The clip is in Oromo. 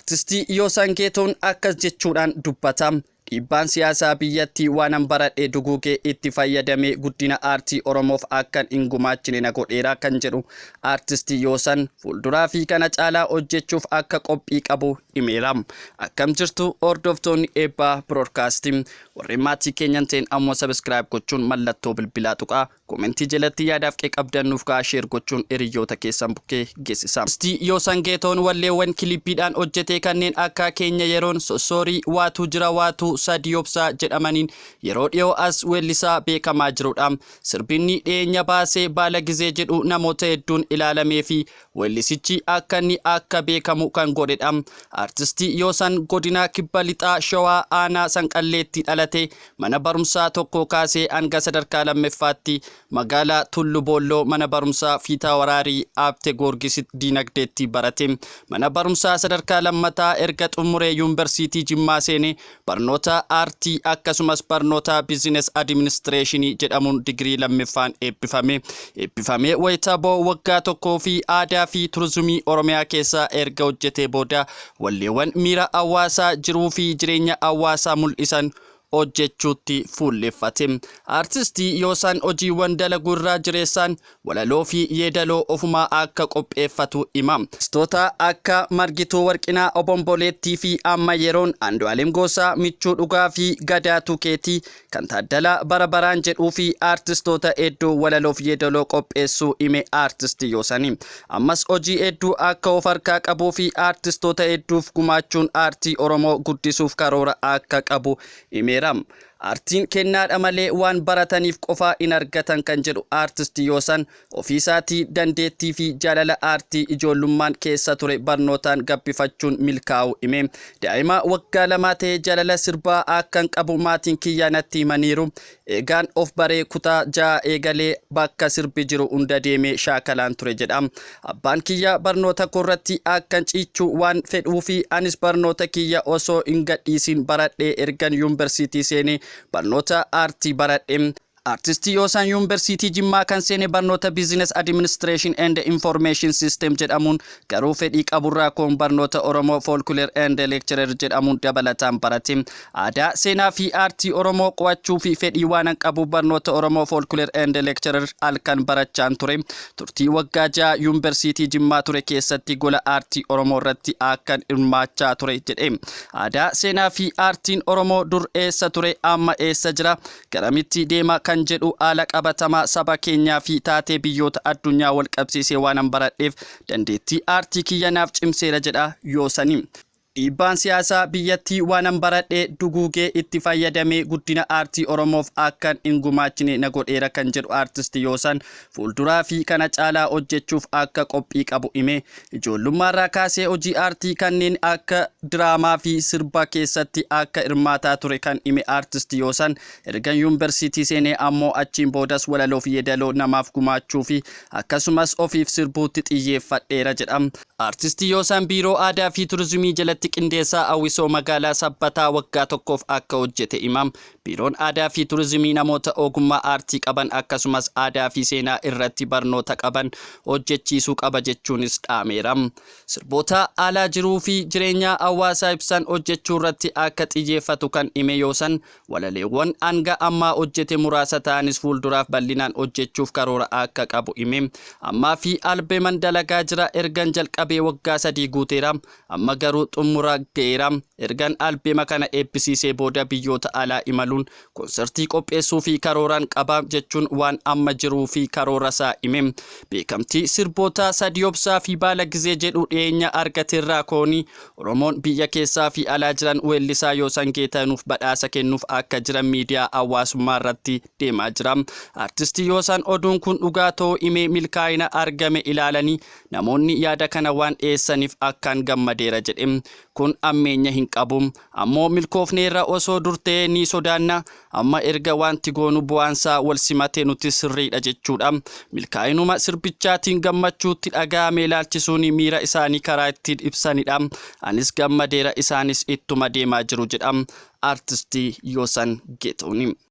Artisti Yoosan Geetuun akkas jechuudhaan dubbata. Dhiibbaan siyaasaa biyyattii waanan baradhe duguugee itti fayyadamee guddina aartii Oromoof akkan hin gumaachine na godheera kan jedhu Artisti Yoosan, fuulduraa fi kana caalaa hojjechuuf akka qophii qabu himeera. Akkam jirtu hordoftoonni Eebbaa Broadcasting. Warreen maatii keenyan ta'in ammoo subscribe gochuun mallattoo bilbilaa tuqaa. Komentii jelatti yaadaaf qe qabdan nuuf ka'aa share gochuun hiriyyoota keessan bukke gesisa. Sti Yoosan Geetoon walleewwan kilippiidhaan hojjetee kanneen akka Keenya Yeroon, Sossoorii, Waatuu Jira Waatuu, Sadii Obsaa jedhamaniin yeroo dhiyoo as weellisaa beekamaa jirudha. Sirbi inni dhiyeenya baase Baalagizee jedhu namoota hedduun ilaalameefi Weellisichi akka inni akka beekamu kan godhedha. Artistii Yoosan godinaa Kibba Lixaa Shawaa aanaa Sanqalleetti dhalate mana barumsaa tokkoo kaasee hanga sadarkaa lammeffaatti magaalaa Tullu Boolloo mana barumsaa Fiitaawaraarii Aabte Goorgisitti diinagdeetti barate. Mana barumsaa sadarkaa lammataa erga xummuree Yuunversiitii Jimmaa seene Barnoota Aartii akkasumas barnoota Biizines Adiminisitireeshinii jedhamuun digirii lammiffaan eebbifame. Eebbifamee wayita ba'u waggaa tokkoo fi aadaa fi turizimii Oromiyaa keessa erga hojjetee booda walleewwan miira hawaasaa, jiruu fi jireenya hawaasaa mul'isan hojjechuutti fuulleffate. Aartistii Yoosaan hojiiwwan dalagu irraa jireessaan Walaloo fi yeedaloo ofumaa akka qopheeffatu hima. Artistoota akka Margituu Warqinaa, Obomboleettii fi amma yeroon Andu'aalem Goosaa, Michuu Dhugaa fi Gadaatu Keeti, kan Taaddalaa Bara Baraan jedhuu fi artistoota hedduu walaloo fi yeedaloo qopheessuu hime Artisti Yoosani. Ammas hojii hedduu akka of harkaa qabuu fi artistoota hedduuf gumaachuun aartii Oromoo guddisuuf karoora akka qabu himeera. Aartiin kennaadha malee waan barataniif qofaa hin argatan kan jedhu Aartist Yoosan, ofiisaatii dandeettiifi jaalala aartii ijoollummaan keessa ture barnootaan gabbifachuun milkaa'uu hime. Daa'ima waggaa lamaa ta'ee jaalala sirbaa akkan qabu maatiin kiyya natti himaniiru. Eegaan of baree kutaa ja'a eegalee bakka sirbi jiru hunda deemee shaakalaan ture jedha. Abbaan kiyya barnoota koorratti akkan ciichu waan fedhuufi anis barnoota kiyya osoo hin gadhiisiin baradhee ergan yuunbarsiitii seene barnoota aartii baradhe. Artisti Yoosaan Yuunbarsiitii Jimmaa kan seene barnoota Business Administration and Information System jedhamuun garuu fedhii qaburraa koon barnoota Oromoo Folklore and Lecturer jedhamuun dabalataan barate. Aadaa, seenaa fi aartii Oromoo qo'achuu fi fedhii waanan qabuuf barnoota Oromoo Folklore and Lecturer halkan barachaan ture. Turtii waggaa ja'a Yuunversiitii Jimmaa ture keessatti gola aartii Oromoo irratti akkan hirmaachaa ture jedhe. Aadaa, seenaa fi aartiin Oromoo dur eessa ture, amma eessa jira, garamitti deema kan jedhu haala qabatamaa saba keenyaa fi taatee biyyoota addunyaa wal qabsiisee waanan baradheef dandeettii aartii kiyya naaf cimseera jedha Yoosani. Dhiibbaan siyaasaa biyyattii waanan baradhe duguugee itti fayyadamee guddina aartii Oromoof akkan hin gumaachine na godheera kan jedhu Aartisti Yoosan, fuulduraafi kana caalaa hojjechuuf akka qophii qabu hime. Ijoollummaarraa kaasee hojii aartii kanneen akka diraamaafi sirba keessatti akka hirmaataa ture kan hime Aartisti Yoosan, ergan yunversiitii seenee ammoo achiin boodas walaloofi yeedaloo namaaf gumaachuufi akkasumas ofiif sirbuutti xiyyeeffadheera jedha. Artisti Yoosaan Biiroo Aadaa fi Turizimii jalatti qindeessaa hawwisoo magaalaa Sabbataa waggaa tokkoof akka hojjete hima. Biiroon Aadaa fi Turizimii namoota ogummaa aartii qaban akkasumas aadaa fi seenaa irratti barnoota qaban hojjechiisuu qaba jechuunis dhaameera. Sirboota haala jiruu fi jireenyaa hawaasaa ibsan hojjechuurratti akka xiyyeeffatu kan hime Yoosan, Walaleewwan hanga ammaa hojjete muraasa ta'anis fuulduraaf bal'inaan hojjechuuf karoora akka qabu hime. Ammaafi albeman dalagaa jira. Ergan jalqabee waggaa sadii guuteera. Amma garuu xummura ga'eera. Ergan albema kana eebbisiisee booda biyyoota alaa imaluun konsertii qopheessuufi karooran qaba, jechuun waan amma jiruufi karoorasaa hime. Beekamtii sirboota Sadiobsaafi Baala Gizee jedhu dhiyeenya argaterraa kooni Oromoon biyya keessaa fi alaa jiran weellisaa Yoosan Geetaanuuf badhaasa kennuuf akka jiran miidiyaa hawaasummaa irratti deemaa jira. Artisti Yoosan oduun kun dhugaa ta'uu himee milkaa'ina argame ilaalanii namoonni yaada kana waan dhiyeessaniif akkaan gammadeera jedhe. Kun hammeenya hin qabu. Ammoo milkoofneerra osoo dur ta'ee ni sodaanna. Amma erga waanti goonu bu'aansaa wal simate nutis sirriidha jechuudha. Milkaa'inuma sirbichaatiin gammachuu itti dhaga'ame ilaalchisuun miira isaanii karaa ittiin ibsanidha. Anis gammadeera isaanis ittuma deemaa jiru jedha Artisti Yoosan Geetahun.